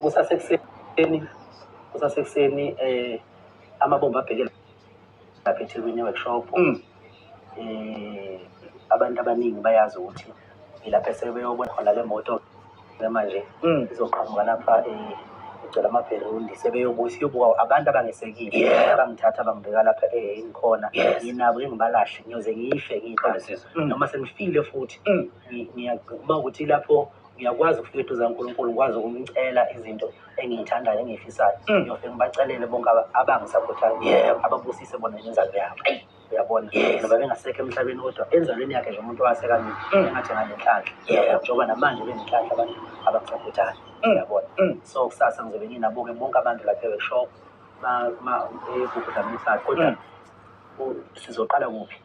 kusasekuseni kusasekuseni eh amabomba abhekela lapha eThekwini workshop mm. eh abantu abaningi bayazi ukuthi ilapha esebeyobona khona le moto manje mm. izoqhamuka lapha eh ngicela amabherundi sebeyobuya siyobuka abantu abangesekile abangithatha bangibeka lapha eh, engikhona nginabo engibalahle ngiyoze ngife ngiqale mm. noma sengifile futhi mm. ngiyakuba ukuthi lapho ngiyakwazi ukufika eduze kaNkulunkulu ngikwazi ukumcela izinto engiyithandayo engiyifisayo mm. ngiyofike ngibacelele bonke abangisakhuthayo yebo ababusise bona inzalo yabo eyi uyabona noba bengasekho emhlabeni kodwa enzalweni yakhe nje umuntu owaseka mina mm. engathi nganenhlanhla yebo njengoba namanje benenhlanhla abantu abakusakhuthayo mm. uyabona so kusasa ngizobe nginabuke bonke abantu lapha eweshop uma uma egugu kodwa sizoqala kuphi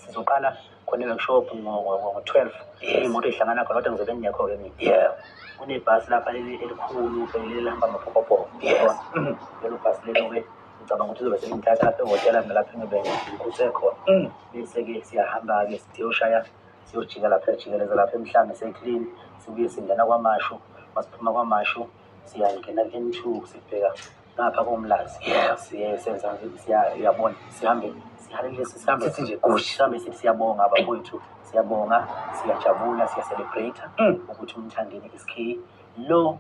sizoqala khona i-workshop ngo-twelve imoto ihlangana khona kodwa ngizobe ngingekho-ke mina yeah kunebhasi lapha elikhulu elihamba amaphokopoko yebo lelo bhasi lenobe ngicabanga ukuthi uzobe sengithatha lapha ehhotela mina lapho engibe ngikhuse khona bese-ke siyahamba-ke siyoshaya siyojika lapha ejikeleza lapha emhlanga se-clean sibuye singena kwamashu masiphuma kwamashu siyangena ku-n two sibheka ngapha komlazi siye senza siyabona sihambe sithi nje gushi sihambe sithi siyabonga abakwethu siyabonga siyajabula siyacelebrate mm. ukuthi umthandeni isk lo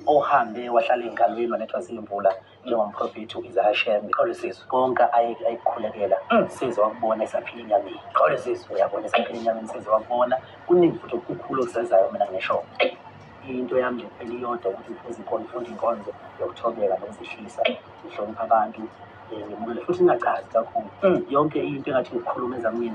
ohambe wahlala engalweni wanethwa ziyimvula njengomprofethi u-izahashemi qole sizwe konke ayikhulekela mm. size wakubona esaphila enyameni qole sizwe uyabona esaphila enyameni size wakubona kuningi futhi okukhulu okusezayo mina ngisho into yami nje kuphela iyodwa ukuthi ngifuna izinkolo ngifunda inkonzo yokuthobeka nokuzihlisa ngihlonipha abantu um ngimukele futhi ngingacazi kakhulu yonke into engathi ngikhuluma ezamina